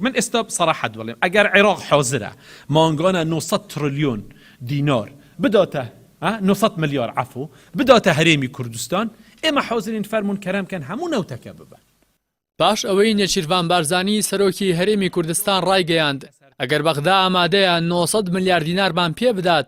من ئێستا سەراحەت بڵێم ئەگەر عێراق حازرە مانگانە نۆ سەد تڕلیۆن دینار بداتە نۆ سەد ملیار عەفو بداتە هەرێمی کوردستان ئێمە حازرین فەرموون کەرەم کەن هەموو نەوتەکە ببەن. پاش ئەوەی نێچیرڤان بارزانی سەرۆکی هەرێمی کوردستان ڕایگەیاند ئەگەر بەغدا ئامادەیە نۆ سەد ملیار دینارمان پێ بدات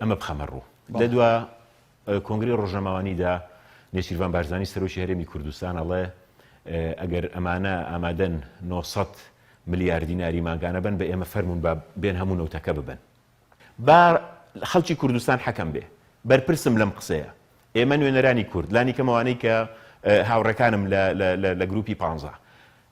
ئەمە بخەمە ڕوو. لە دوا کۆنگرەی ڕۆژنامەوانیدا نێچیرڤان بارزانی سەرۆکی هەرێمی کوردستان ئەڵێ ئەگەر ئەمانە ئامادەن نۆ سەد ملیار دیناری مانگانە بەن بە ئێمە فەرموون با بێن هەموو نەوتەکە ببەن با خەڵکی کوردستان حەکەم بێ. بەرپرسم لەم قسەیە. ئێمە نوێنەرانی کورد، لانیکەم ئەوانەی کە هاوڕێکانم لە گرووپی پانزە،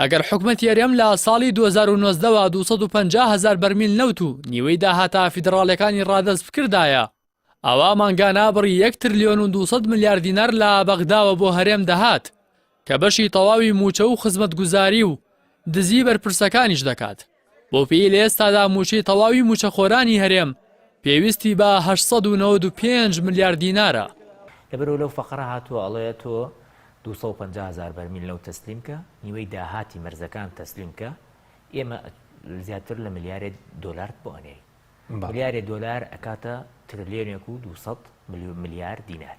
ئەگەر حکومەتی هەرێم لە ساڵی دوو هەزار و نۆزدە وە دوو سەد و پەنجا هەزار بەرمیل نەوت و نیوەی داهاتە فیدڕاڵیەکانی ڕادەست بکردایە ئەوا مانگانە بڕی یەک ترلیۆن و دوو سەد ملیار دینار لە بەغداوە بۆ هەرێم دەهات کە بەشی تەواوی مووچە و خزمەتگوزاری و دزی بەرپرسەکانیش دەکات. بۆپێی لە ئێستادا مووچەی تەواوی مووچەخۆرانی هەرێم پێویستی بە هەشت سەد و نەوەد و پێنج ملیار دینارە. لەبەرئەوە لەو فەقرە هاتووە ئەڵێ تۆ دوو سەد و پەنجا هەزار بەرمیل نەوت تەسلیم کە، نیوەی داهاتی مەرزەکان تەسلیم کە، ئێمە زیاتر لە ملیارێ دۆلارت بۆ ئەنێین. ملیارێ دۆلار ئەکاتە ترلیۆنێک و دوو سەد ملیار دینار.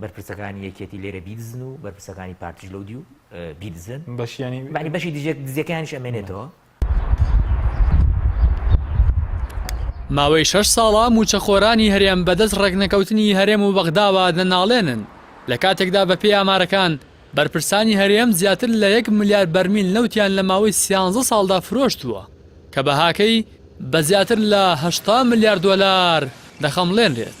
بەرپرسەکانی یەکێتی لێرە بیدزن و بەرپرسەکانی پارتیش لەو دیو بیدزن بەشیانی بانی بەشی دژێک دزیەکانیش ئەمێنێتەوە ماوەی شەش ساڵە موچەخۆرانی هەرێم بەدەست ڕێکنەکەوتنی هەرێم و بەغداوە دەناڵێنن لە کاتێکدا بەپێی ئامارەکان بەرپرسانی هەرێم زیاتر لە یەک ملیار بەرمیل نەوتیان لە ماوەی سیانزە ساڵدا فرۆشتووە، کە بەهاکەی بە زیاتر لە هەشتا ملیار دۆلار دەخەمڵێنرێت.